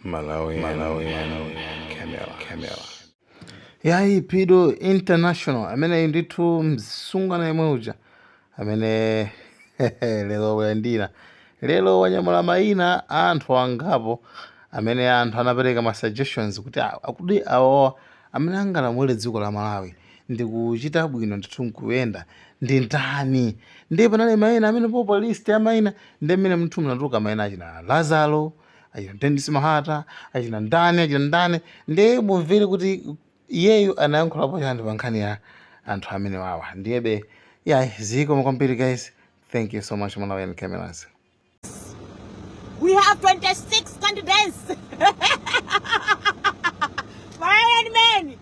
Malawian, Malawian camera, camera. yayi pido international ameneyi ndithu msungwana yemwe uja amene lero wayandira lero wanyamula mayina a anthu angapo amene anthu anapereka ma suggestions kuti a- akuti awawa amene angalamulire dziko la malawi ndi kuchita bwino ndithu nkuyenda ndi ndani ndiye panali mayina amene popo list ya mayina ndi mmenemuthu munatuluka mayina achina lazaro achina Dennis Mahata achina ndani achina ndani ndiye mumvere kuti iyeyu anayankhulapo chiyani pa nkhani ya anthu amene wawa ndiyebe yayi zikomo kwambiri guys thank you so much malawian cameras We have 26 candidates. Malawian men.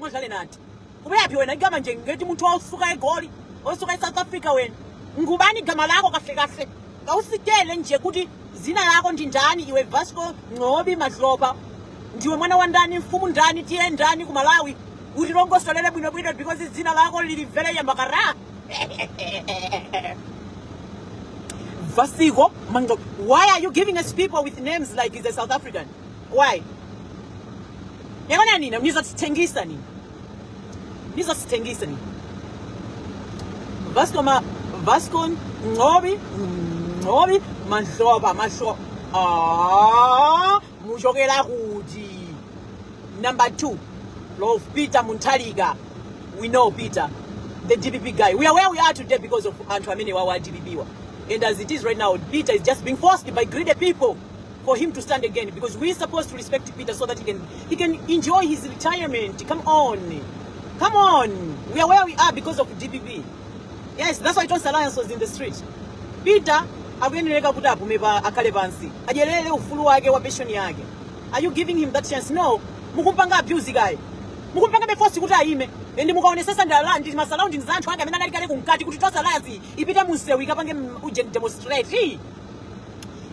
madala nati ubuyaphi wena igama nje ngeti munthu osuka eGoli osuka eSouth Africa wena ngubani igama lakho kahle kahle awusitshele nje kuti zina lako ndi ndani iwe vasco Ngcobi Madlopa ndiwe mwana wa ndani mfumu ndani tiye ndani ku malawi utilongosolere bwinobwino because zina lako lili vele yambakara vasiko manga why are you giving us people with names like the south african why yabona nina nizasithengisa nina nizasithengisa nina vasco ma vasco ngobi ngobi mahloba mahloba ah mushokela kuti number 2 love peter munthalika we know peter the dpp guy we are where we are today because of anthu amene wawa dpp wa and as it is right now peter is just being forced by greedy people for him to stand again because we're supposed to respect Peter so that he can he can enjoy his retirement. Come on. Come on. We are where we are because of DPP. Yes, that's why Tonse Alliance was in the street. Peter akuyenereka kuti apume pa akhale pansi. Adyerere ufulu wake wa pension yake. Are you giving him that chance? No. Mukumpanga abuse guy. Mukumpanga be force kuti ayime. Ndi mukaonesesa ndi ma surroundings anthu ake amene anali kale kumkati kuti Tonse Alliance ipite mu msewu ikapange mm, ujeni demonstrate.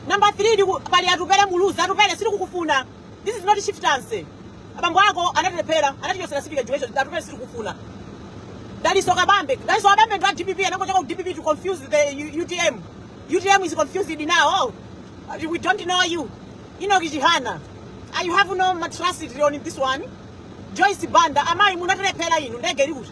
Number 3 ndiku pali atupele muluzi atupele sili kukufuna. This is not shiftancy. Abambo ako anatilephera anatichosera sipika Joyce atupele sili kukufuna. Daliso Kabambe. Daliso Kabambe ndo DPP anakotoka DPP to confuse the U- UTM. UTM is confused now. Oh, uh, we don't know you. Ino Kijihana. Ah, you have no matracity on this one. Joyce Banda. Amai munatilephera inu ndege likuti.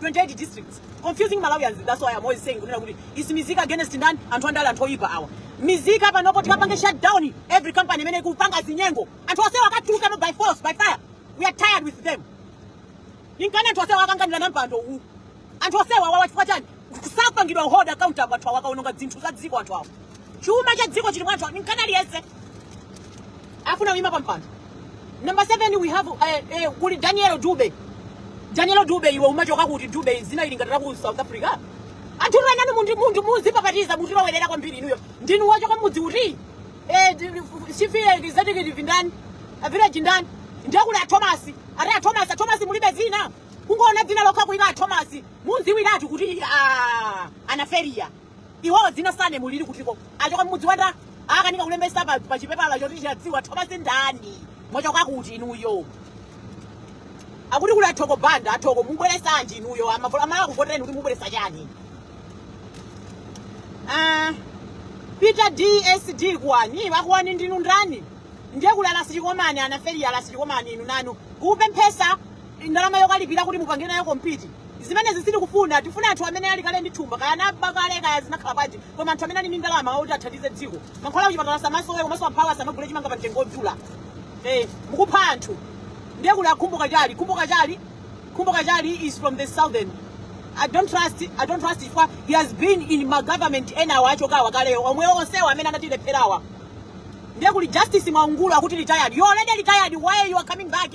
28 districts confusing malawians that's why i'm always saying kunena kuti is mizika against ndani anthu andale anthu oyipa awa mizika panopo tikapange shutdown every company imene ikupanga zinyengo anthu onsewa akatuluke by force by fire we are tired with them ninkani anthu onsewa akanganira na mpando uwu anthu onsewa wawa chifukwa chani sakupangidwa hold accountable anthu awa akaononga zinthu za dziko anthu awa chuma cha dziko chili mwa anthu nkana aliyense afuna kuyima pampando number seven we have eh, eh, kuli daniel dube daniel dube iwe umachoka kuti dube zina ili ngati la ku south africa anthu enanu mundi mundi muzipapatiza mutilowerera kwambiri inuyo ndinu wachoka mudzi uti eh, di- di- sifiye executive ndani village ndani ndiye kuli athomasi ati athomasi athomasi mulibe zina kungoona dzina lokha kuti ndi athomasi mudziwiratu kuti ah, anaferiya Iwowo dzina sane mulili kutiko. Achoka mmudzi wa ndani akanika kulembesa pa pa chipepala choti chadziwa Thomas ndani. Mwachoka kuti inuyo. Akuti kuli a Thoko banda athoko mubweresanji inuyo amavola amala kuvotereni kuti mubweresa chani. Ah, Peter DSD Kuwani a Kuwani ndinu ndani? Ndiye kuli a Ras Chikomeni anaferi a Ras Chikomeni inu nanu. Kupemphesa ndalama yokalipira kuti mupange nayo kompiti zimenezo sitikufuna tifuna anthu amene ali kale ndi thumba kaya anaba kale kaya zinakhala bwanji koma anthu amene ali ndi ndalama oti athandize dziko mankhwala kuchipatala asamasowe komanso amphawi asamagule chimanga pa mtengo wodula eh, mukupha anthu ndiye kuli Akwame Bandawe Kwame Bandawe Kwame Bandawe is from the southern I don't trust I don't trust chifukwa he has been in my government enawo achokawa kaleyo omwe onsewo amene anatilepherawa ndiye kuli justice mwaungulu akuti retired you already retired why you are coming back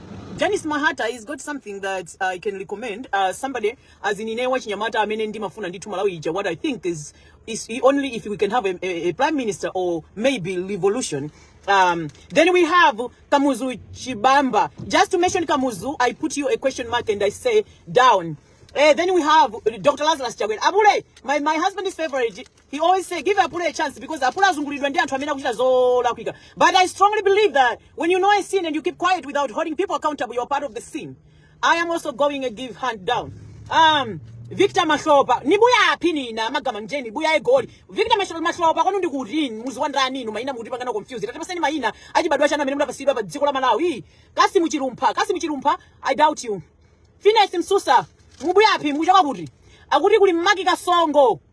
Janice Mahata he's got something that I can recommend uh, somebody as in inewa chinyamata amene ndimafuna ndithu Malawi ija what I think is is only if we can have a, a, a prime minister or maybe revolution um, then we have Kamuzu Chibamba just to mention Kamuzu I put you a question mark and I say down Eh, then we have Dr. Lazarus Chakwera. Abule, my, my husband's favorite He always say give Apule a chance because Apule azungulidwa ndi anthu amene akuchita zolakwika. But I strongly believe that when you know a sin and you keep quiet without holding people accountable, you're part of the sin. I am also going to give hand down. Um, Victor Mashopa, nibuya apini na magama njeni, buya e goli. Victor Mashopa, Mashopa, kwanu ndi kuti, mudzi wa ndani, inu maina mukutipanga nawo confused. Tatipatsani maina, achibadwa chanu amene munapatsidwa pa dziko la Malawi. Kasi muchirumpa, kasi muchirumpa, I doubt you. Finesse Msusa, mubuya api, mukuchoka kuti. Akuti kuli mmaki kasongo.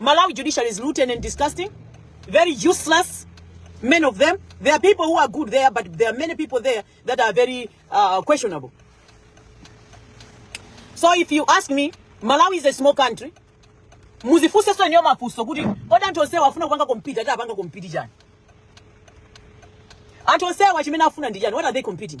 Malawi judiciary is rotten and disgusting, very useless. Many of them. There are people who are good there, but there are many people there that are very uh, questionable. So if you ask me, Malawi is a small country. Muzifuse so nyo mafuso kuti kodi anthu onse wafuna kupanga compete ati apanga compete chani? Anthu onse wachimene afuna ndi chani? What are they competing?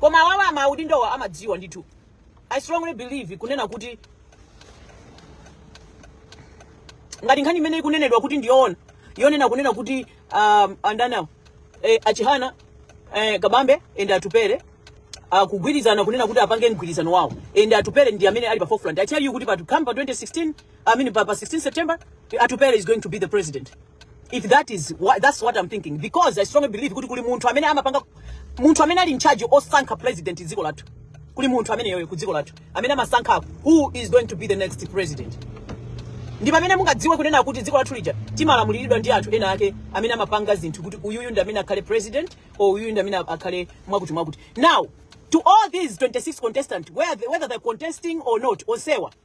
koma awawa amaudindowa amadziwa ndithu i strongly believe kunena kuti ngati nkhani imene ikunenedwa kuti ndi yoona yonena kunena kuti um, a ndani awo eh, achihana eh, kabambe ende atupere akugwirizana kunena kuti apange mgwirizano wawo ende atupere ndi amene ali pa forefront i tell you kuti pa come pa 2016 i mean pa, pa 16 september atupere is going to be the president if that is what, that's what I'm thinking because I strongly believe kuti kuli munthu amene amapanga munthu amene ali in charge osankha president dziko lathu kuli munthu ameneyoyo ku dziko lathu amene amasankha who is going to be the next president ndi pamene mungadziwe kunena kuti dziko lathu lija timalamuliridwa ndi anthu ena ake amene amapanga zinthu kuti uyuyu ndi amene akhale president or uyuyu ndi amene akhale mwakuti mwakuti now to all these 26 contestants whether, whether they're contesting or not onsewa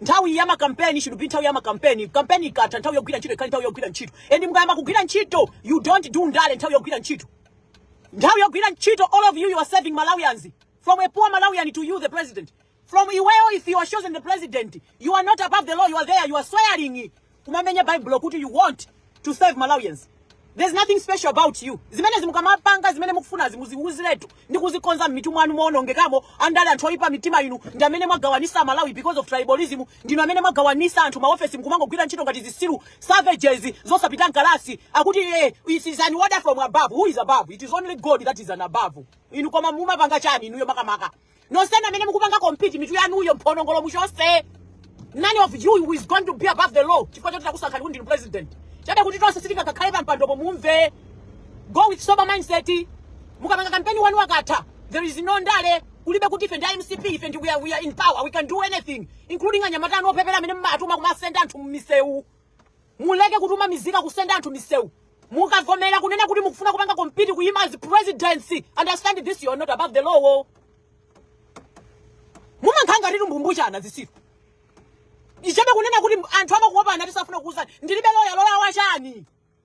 Nthawi ya makampeni should be nthawi ya makampeni. Kampeni ikatha nthawi yogwira ntchito ikhale nthawi yogwira ntchito. And mukayamba kugwira ntchito, you don't do ndale nthawi yogwira ntchito. Nthawi yogwira ntchito, all of you, you are serving Malawians. From a poor Malawian to you, the president. From Iweo, if you are chosen the president, you are not above the law, you are there, you are swearing. kumamenya bible kuti you want to serve malawians there's nothing special about you zimenezi mukamapanga zimene mukufunazi muziwuziretu ndi kuzikonza m'mitu mwanu moonongekamo andale anthu oyipa mitima inu ndi amene mwagawanitsa malawi because of tribalism ndinu amene mwagawanitsa anthu maofesi mkumangogwira ntchito ngati zitsiru savages zosapita mkalasi akuti eh, it is an order from above who is above it is only god that is an above inu koma mumapanga chani inuyo makamaka nonsenu amene mukupanga compete mitu yanuyo mphonongolo muchotse none of you who is going to be above the law chifukwa choti takusankhani kuti ndi president chabe kuti tonse sitingakhale pampandopo mumve go with sober mindset mukapanga kampeni wanu akatha there is no ndale kulibe kuti ife ndi a mcp ife ndi we are, we are in power we can do anything including anyamata anu opepera amene mmatuma kumasenda anthu mmisewu Muleke kutuma mizika kusenda anthu misewu mukavomera kunena kuti mukufuna kupanga compete kuyima as presidency understand this you are not above the law mumankhanga titumbumbujana zisiru ichabe kunena kuti anthu amakuopa anati safuna kuuzani ndilibe loya loya wachani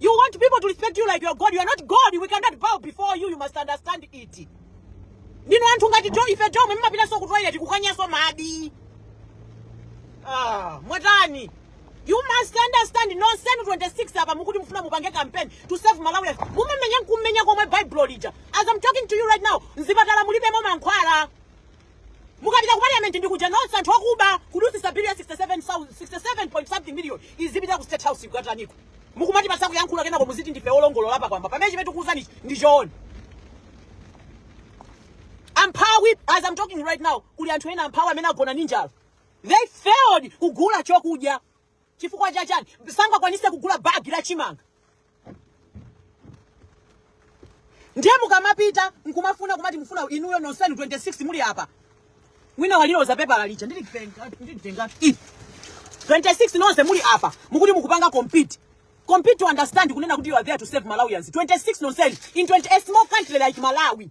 You want people to respect you like you are God. You are not God. We cannot bow before you. You must understand it. Ndino anthu ngati jo ife jo mwe mmapitanso ku toilet kukanyanso madi. Ah, mwatani. You must understand nonsense 26 apa mukuti mufuna mupange campaign to save Malawi. Mumemenya nkumenya komwe Bible lija. As I'm talking to you right now, nzipatala mulibemo mankhwala. mukapita ku parliament ndikuja nonse anthu okuba kudusisa bill ya 67 point something million izipita ku state house kukataniko mukumati pasakuyankhula kenako muziti ndife olongolola pamwamba pamene chimene tikuwuzani ndi choona amphawi as i'm talking right now kuli anthu ena amphawi amene agona ndi njala they failed kugula chokudya chifukwa chachani sangakwanise kugula bag la chimanga ndiye mukamapita nkumafuna kumati mufuna inuyo nonsenu 26 muli apa wina waliloza pepala lija ndilitenga 26 nonse muli apa mukuti mukupanga compete to understand kunena kuti you are there to serve malawians 26 nonsenu in 20 a small country like malawi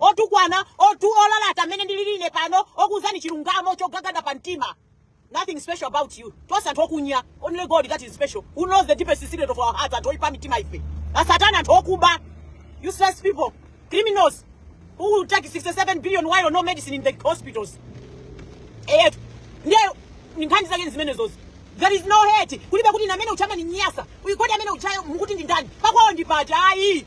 otukwana olalata mmene ndilili ine pano okuuzani chilungamo chogagada pa mtima nothing special about you tonse anthu okunya only god that is special who knows the deepest secret of our hearts anthu oyipa mitima ife asatana anthu okuba useless people criminals who will take 67 billion while no medicine in the hospitals eh ndiye nkhani zake ndi zimenezozi there is no hate kulibe kuti amene u Chama ni nyasa uyikodi amene uchayo mukuti ndindani pakwawo ndi pati ayi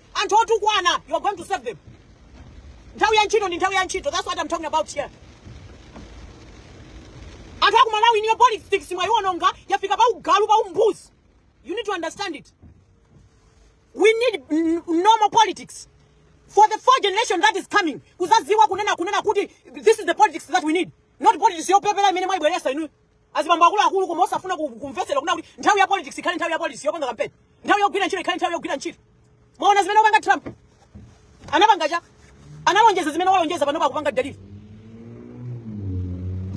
anthu otukwana you are going to serve them nthawi ya ntchito ndi nthawi ya ntchito that's what i'm talking about here anthu aku malawi inuyo politics mwayiwononga yafika pa ugalu pa umbuzi you need to understand it we need n- normal politics for the four generation that is coming kuzaziwa kunena kunena kuti this is the politics that we need not politics yopepera imene mwayibweresa inu azibambo akuluakulu koma osafuna ku- kumvetsedwa kunena kuti nthawi ya politics ikhale nthawi ya politics yopanga kampeni nthawi yogwira ntchito ikhale nthawi yogwira ntchito mwaona zimene wapanga trump anapanga cha analonjeza zimene walonjeza panopa akupanga deliver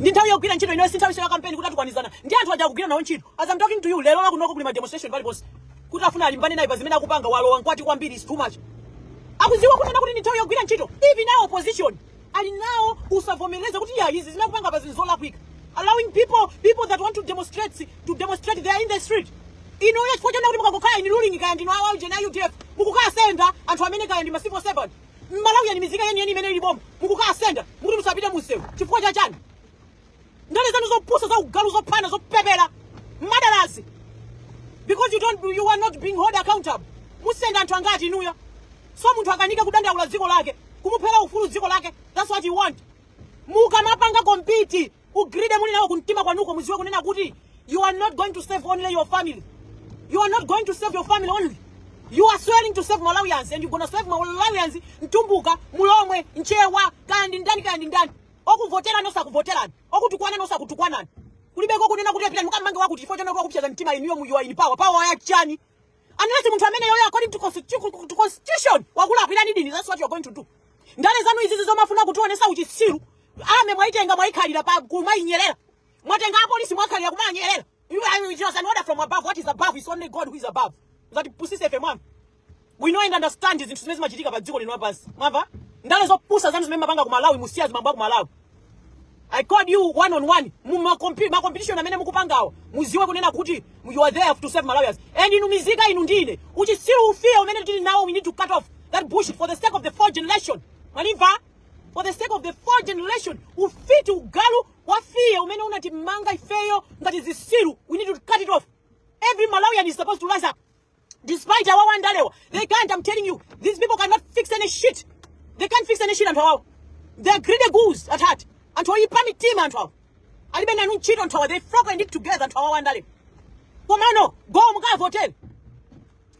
ndi nthawi yogwira ntchito inoyo si nthawi ya kampeni kuti azitukwanizana ndi anthu aja akugwira nawo ntchito as I'm talking to you lero lakunoko kuli ma demonstration paliponse kuti afuna alimbane naye pa zimene akupanga walowa nkati kwambiri is too much akuziwa kunena kuti ndi nthawi yogwira ntchito even nayo opposition ali nawo usavomereza kuti ya izi zimene akupanga pa zizolakwika allowing people that want to demonstrate they are in the street inu ayi chifukwa chonena kuti mukangokhala in ruling kaya ndinu awa ujena udf mukukasenda anthu amene kaya ndi ma civil servant mmalawi ndi mizika yeniyeni imene ili boma mukukasenda mukuti musapite munsewu chifukwa cha chani ndale zanu zopusa za ugalu zophana zopepera madalazi because you don't you are not being held accountable musenda anthu angati inuyo so munthu akanika kudandaula dziko lake kumuphera ufulu dziko lake that's what you want mukamapanga kompiti greed muli nayo kumtima kwanuko muziwe kunena kuti you are not going to serve only your family you are not going to serve your family only you are swearing to serve malawians and you're gonna serve malawians mtumbuka mulomwe nchewa kaya ndi ndani kaya ndi ndani okuvoterani osakuvoterani okutukwanani osakutukwanani kulibeko kunena kuti apitani mukamange wakuti chifukwa chonena kuti wakupsetsa mtima inuyo you are in power power ya chani unless munthu amene yoyo according to constitu- to constitution wakulakwirani dini that's what you're going to do ndale zanu izizi zomafuna kutionesa uchitsiru ame mwaitenga mwaikhalira kumainyerera mwatenga apolisi mwakhalira kumanyerera You are you just an order from above. What is above is only God who is above. Musatipusitse ife mwamva. We know and understand zinthu zimene zimachitika pa dziko lino lapansi. Mwamva? Ndale zopusa zanu zimene mapanga ku Malawi musiye zimenezo ku Malawi. I called you one on one. Mu ma compi- ma competition amene mukupangawo. Muziwe kunena kuti you are there to serve Malawians. And inu mizika inu ndine. Uchitsiru ufiti umene tili nawo we need to cut off that bullshit for the sake of the fourth generation. Mwamva? For the sake of the fourth generation. Ufiti ugalu wafiye umene unatimanga ifeyo ngati zisiru we need to cut it off every malawian is supposed to rise up despite awawa andalewa they can't i'm telling you these people cannot fix any shit they can't fix any shit anthu awawa they are greedy ghouls at heart anthu oyipa mitima anthu awa alibe nanu ntchito anthu awa they flock and it together anthu awawa andalewa komano go mukavotere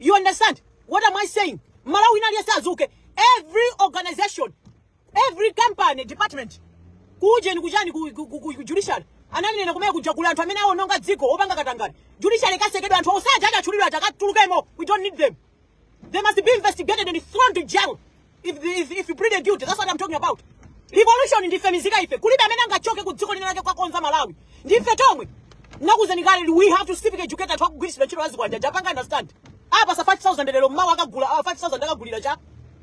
you understand what am i saying malawi inali asazuke every organization every company department kuujeni kuchani ku, ku, ku, ku judiciary ananena kumene kuja kula anthu amene awononga dziko opanga katangani judiciary ikatsekedwa anthu onse aja adatchulidwa ati akatulukemo we don't need them they must be investigated and thrown to jail if, the, if, if you plead guilty that's what i'm talking about revolution ndife mizika ife kulibe amene angachoke ku dziko lina lake kudzakonza malawi ndife tomwe nakuuzani kale we have to civic educate anthu akugwiritsidwa ntchito azikwanitsa kupanga understand apatsa 5000 lero mmawa akagula ah, 5000 akagulira cha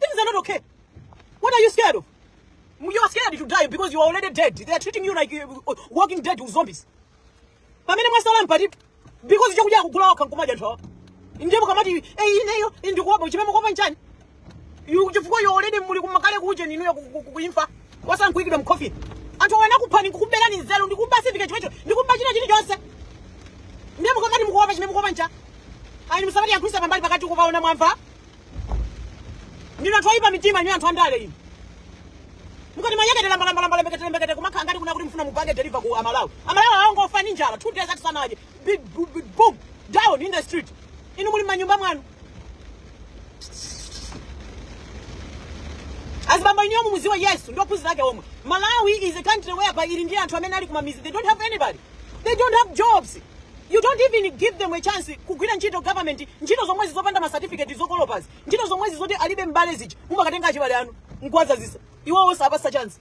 Things are not okay. What are you scared of? You are scared to die because you are already dead. They are treating you like uh, walking dead with zombies. Pamene mwatsala ndi pati because chokudya kugula wakha nkumadya nthawa. Ndipo nkumati eh ineyo ndikuopa chimene mukuopa nchani. You chifukwa you already muli kumakale kuujeni ya kuimfa. Kwatsala nkuikidwa mkofi. Anthu anakuphani kukuberani nzelu ndikuba sivike chimecho ndikuba china chini chonse. Ndipo nkumati mukuopa chimene mukuopa ncha. Ayi msamali yakwisa pambali pakati kuvaona mwamva. ndinu anthu oyipa mitima inu anthu andale inu mukatimanyeketera mbalambalambala mbeketera mbeketera kumakhala ngati kunena kuti mfuna mupange deliver ku amalawi amalawi awangofa ni njala two days atisanaje Big bu- bu- boom down in the street inu muli manyumba mwanu azibamba inuyo muziwe yesu ndi ophunzira ake omwe malawi is a country whereby ili ndi anthu amene ali kumamidzi they don't have anybody they don't have jobs you don't even give them a chance kugwira ntchito government ntchito zomwezi zopanda macertificate zokolopazi ntchito zomwezi zoti alibe mbale zija mumakatenga achibale anu nkuwadzadzitsa iwo osapatsa chance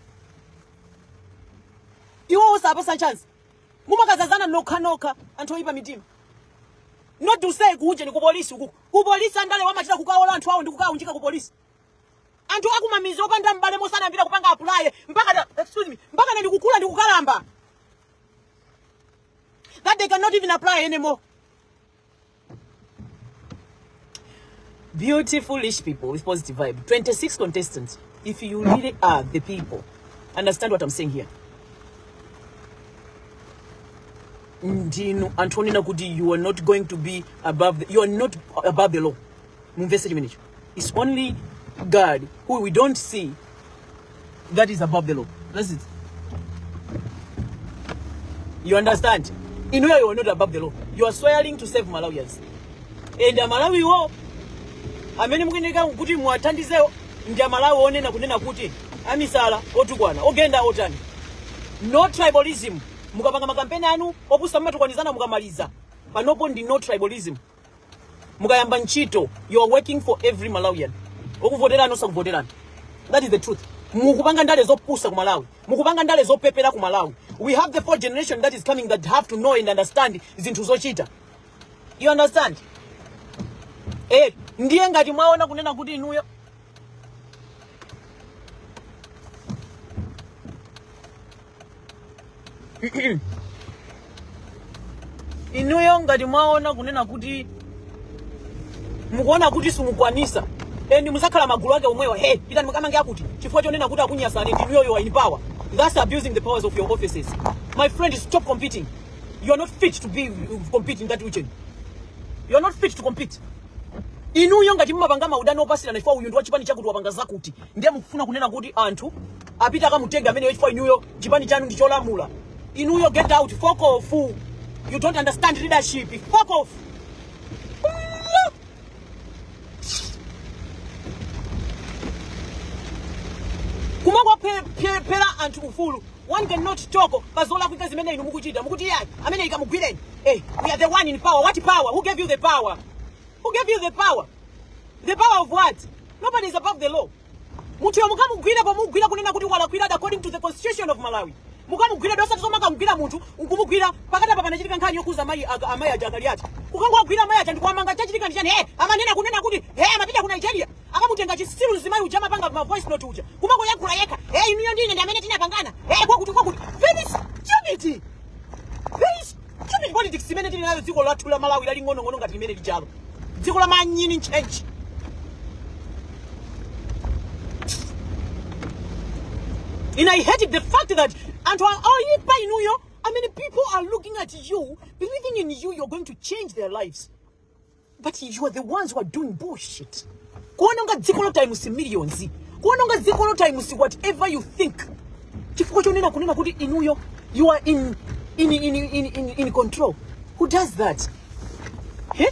iwo osapatsa chance mumakadzadzana nokha nokha anthu oyipa mitima not to say kuujeni kupolisi uku kupolisi andale amachita kukawola anthu awo ndi kukaunjika kupolisi anthu akumamizi opanda m'bale mmene anayambira kupanga apply mpaka na- excuse me mpakana ndi kukula ndi kukalamba that they cannot even apply anymore beautiful foolish people with positive vibe 26 contestants if you really are the people understand what i'm saying here ndinu anthu onena kuti you are not going to be above the, you are not above the law mumvese chimenecho It's only God who we don't see that is above the law. That's it. You understand? Inuyo you are not above the law. You are swearing to save Malawians. And Amalawiwo amene mukufunika kuti muwathandizewo ndi amalawi onena kunena kuti amisala otukwana ogenda otani no tribalism mukapanga makampeni anu opusa mmatukwanizana mukamaliza panopo ndi no tribalism mukayamba ntchito you are working for every malawian okuvoterani osakuvoterani that is the truth mukupanga ndale zopusa ku malawi mukupanga ndale zopepera ku malawi we have the fourth generation that is coming that have to know and understand zinthu zochita you understand eh ndiye ngati mwaona kunena kuti inuyo inuyo ngati mwaona kunena kuti mukuona kuti simukwanisa and muzakhala magulu ake omwewo hey pitani mukamange akuti chifukwa chonena kuti akunyasani ndinuyo you are in power that's abusing the powers of your offices my friend stop competing you are not fit to be competing in that region you are not fit to compete Inuyo ngati mumapanga maudani opatsirana chifukwa uyu ndi wa chipani chakuti wapanga zakuti, ndiye mukufuna kunena kuti anthu apite akamutenge ameneyo chifukwa inuyo chipani chanu ndi cholamula. Inuyo get out, fuck off. You don't understand leadership. Fuck off. kumangophera anthu ufulu One can not talk pa zolakwika zimene inu mukuchita mukuti iyayi ameneyo kamugwireni eh we are the one in power what power who gave you the power who gave you the power the power of what nobody is above the law munthu yemwe mukamugwira pomugwira kunena kuti walakwira according to the constitution of malawi mukamugwira osati zomaakamugwira munthu nkumugwira pakati apa panachitika nkhani yokhuza amayi aga- amayi aja akali ati kukangowagwira amayi aja ndikuwamanga chachitika ndi chani eh amanena kunena kuti eh amapita ku nigeria akamutenga chisiru mzimayi uja amapanga ma voice note uja kumangoyankhula yekha hey inuyo ndine ndi amene tinapangana hey kwakuti kwakuti very stupid very stupid politics imene tili nayo dziko lathu la malawi laling'onong'ono ngati limene lijalo dziko la manyini ntchentche And I hate the fact that pa inuyo many people are looking at you, believing in you, you're going to change their lives. but you are the ones who are doing bullshit kuononga dziko lo times millions kuononga dziko lo times whatever you think chifukwa chonena kunena kuti inuyo you are in, in, in, in, in, in control who does that Eh?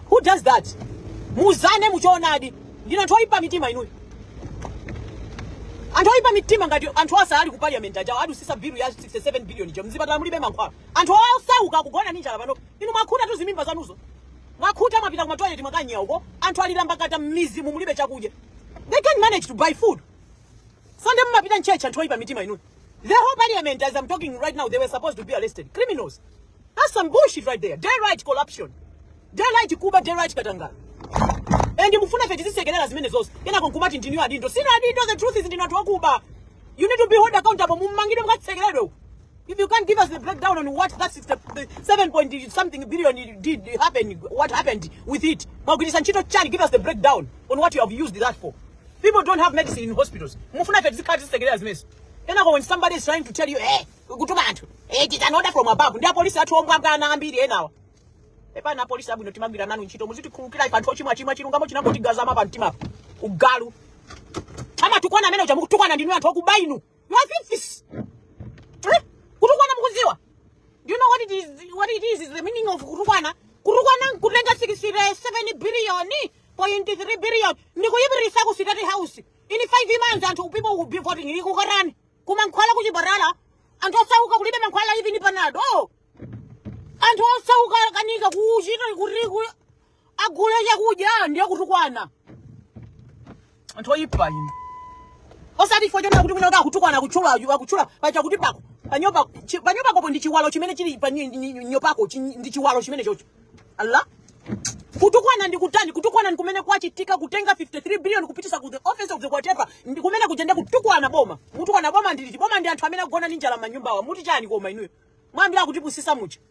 who does that muzane muchoonadi ndinu anthu oyipa mitima inuyo anthu oyipa mitima ngati anthu aja ali ku parliament aja adutsitsa bill ya 67 billion ija mzipatala mulibe mankhwala anthu osauka kugona ndi njala pano Inu mwakhuta tu zimimba zanuzo. Mwakhuta mwapita kuma toilet mwakanyera uko. Anthu alira m'makata m'midzimu mulibe chakudya. They can't manage to buy food. Sunday mumapita m'church anthu oyipa mitima inu. The whole parliament as I'm talking right now they were supposed to be arrested. Criminals. That's some bullshit right there. Daylight corruption. Daylight kuba, daylight katangale. And mufuna ife tizisekelera zimenezo. Kenako nkumati ndinu adindo. Sinu adindo the truth is ndinu anthu okuba. You need to be held accountable. Mumangidwe mukatsekeredwe uko. If you can't give us the breakdown on what that 67 point something billion did happen, what happened with it, Mwagwiritsa ntchito chani, give us the breakdown on what you have used that for. People don't have medicine in hospitals. Mufuna ife tizikhala tizisekerera zimenezo. Kenako when somebody is trying to tell you, eh, kutuma anthu, eh, it is an order from above. Ndi apolisi athu omwe anyamata ambiri enawa. Pepani apolisi abwino timagwira nanu ntchito muzitikhulukira ife anthu ochimwa chimwa chilungamo chinangotikhazikika pa mtima. Ugalu. Amatukwana ameneuja mukutukwana ndinu anthu okuba inu. Mwa afisi. Eh? Kutukwana mukudziwa. Do you know what it is what it is is the meaning of kutukwana? Kutukwana nkutenga 67 billion point 3 billion ndikuyipititsa ku state house. In 5 months anthu people will be voting ili kukukanani. Kumankhwala ku chipatala. Anthu osauka kulibe mankhwala even panado. Oh. Anthu osauka kukanika kuchita kuti ku agule chakudya ndiye kutukwana anthu oyipa inu osati chifukwa chonena kuti mwina kuti akutukwana akutchula akutchula pachakuti pako panyo pa chi- panyo pakopo ndi chiwalo chimene chili pa nyo- nyo- nyo pako chi- ndi chiwalo chimene chocho ala kutukwana ndi kutani kutukwana ndi kumene kwachitika kutenga 53 billion kupititsa ku the office of the whatever ndi kumene kuja ndi kutukwana boma mutukwana boma ndi liti boma ndi anthu amene agona ndi njala m'manyumbawa muti chani koma inuyo mwayambira kuti pusisa mucha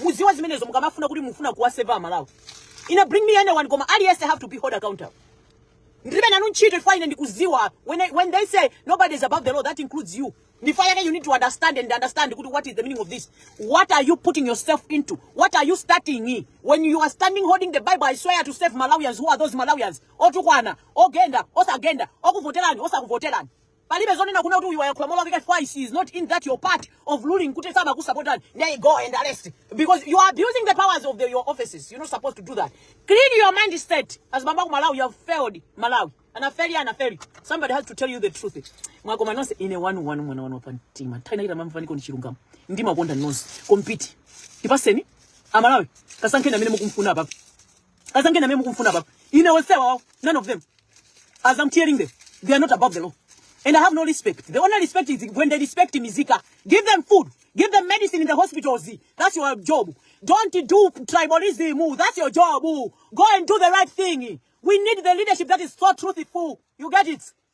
Mudziwa zimenezo mukamafuna kuti mufuna kuwaseva amalawi ine bring me anyone koma aliyense have to be held accountable ndilibe nanu ntchito chifukwa ine ndikudziwa when, I- when they say nobody is above the law that includes you ndi chifukwa chake you need to understand and understand kuti what is the meaning of this what are you putting yourself into what are you starting when you are standing holding the bible i swear to serve malawians who are those malawians otukwana ogenda osagenda okuvoterani osakuvoterani Palibe zonena kunena kuti uyu wayakhula molakwika that is not in that your part of ruling kuti samakusapotani there you go and arrest because you are abusing the powers of the, your offices you're not supposed to do that clean your mindset as bamba ku Malawi you have failed Malawi anafeli anafeli somebody has to tell you the truth mwakanika nonse ine wanu wanu mwana wanu pa mtima nthawi inachita mamvaniko ndi chilungamo ndimakonda nonse compete tipaseni amalawi kasankheni amene mukumfuna apapo azangena mwe mukumfuna baba ine onsewa wawo none of them as i'm telling them they are not above the law and i have no respect the only respect is when they respect mizika give them food give them medicine in the hospitals that's your job don't do tribalism that's your job go and do the right thing we need the leadership that is so truthful you get it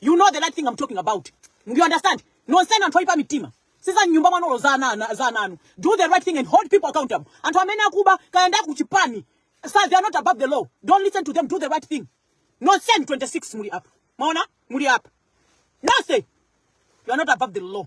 You know the right thing I'm talking about. Do you understand? Nonsenu anthu oyipa mitima. Siza nyumba mwanolo za ana za ananu. Do the right thing and hold people accountable. Anthu amene akuba kaenda kuchipani. Sir, they are not above the law. Don't listen to them. Do the right thing. Nonsense 26 muli up. Maona? Muli up. Nonsense. You are not above the law.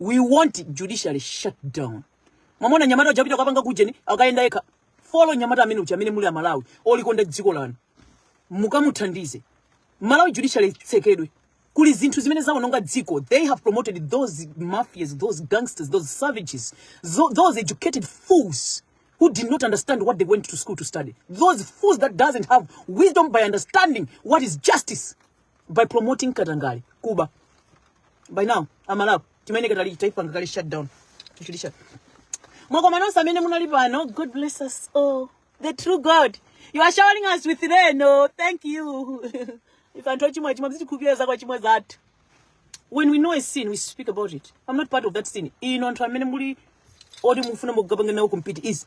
we want judiciary shut down mwamona nyamata uja apita kapanga kujeni akuyenda yekha follow nyamata amene uja amene muli amalawi olikonda dziko lanu mukamuthandize malawi judiciary itsekedwe kuli zinthu zimene zawononga dziko they have promoted those mafias those gangsters those savages tho- those educated fools who did not understand what they went to school to study those fools that doesn't have wisdom by understanding what is justice by promoting katangale kuba by now amalawi timayeneka titaipanga kale shut down tichilisha mwakoma nonse amene munali pano god bless us all the true god you are showering us with rain oh thank you if anthu ochimwa chimwa mutikhululukire zakuchimwa zathu when we know a sin we speak about it i'm not part of that sin inu anthu amene muli oti mufuna mukapanga nawo compete is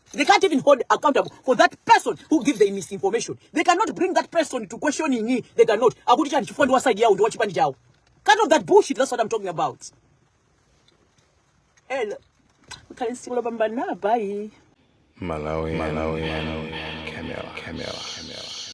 They can't even hold accountable for that person who gives the misinformation. They cannot bring that person to questioning me. They cannot. Akuti chani chifukwa ndi waside yao ndi wachipani chao. Cut off that bullshit. That's what I'm talking about. Hello. Kale sikulo bamba na bye. Malawi, Malawi, Malawi, Camera, Camera, Camera.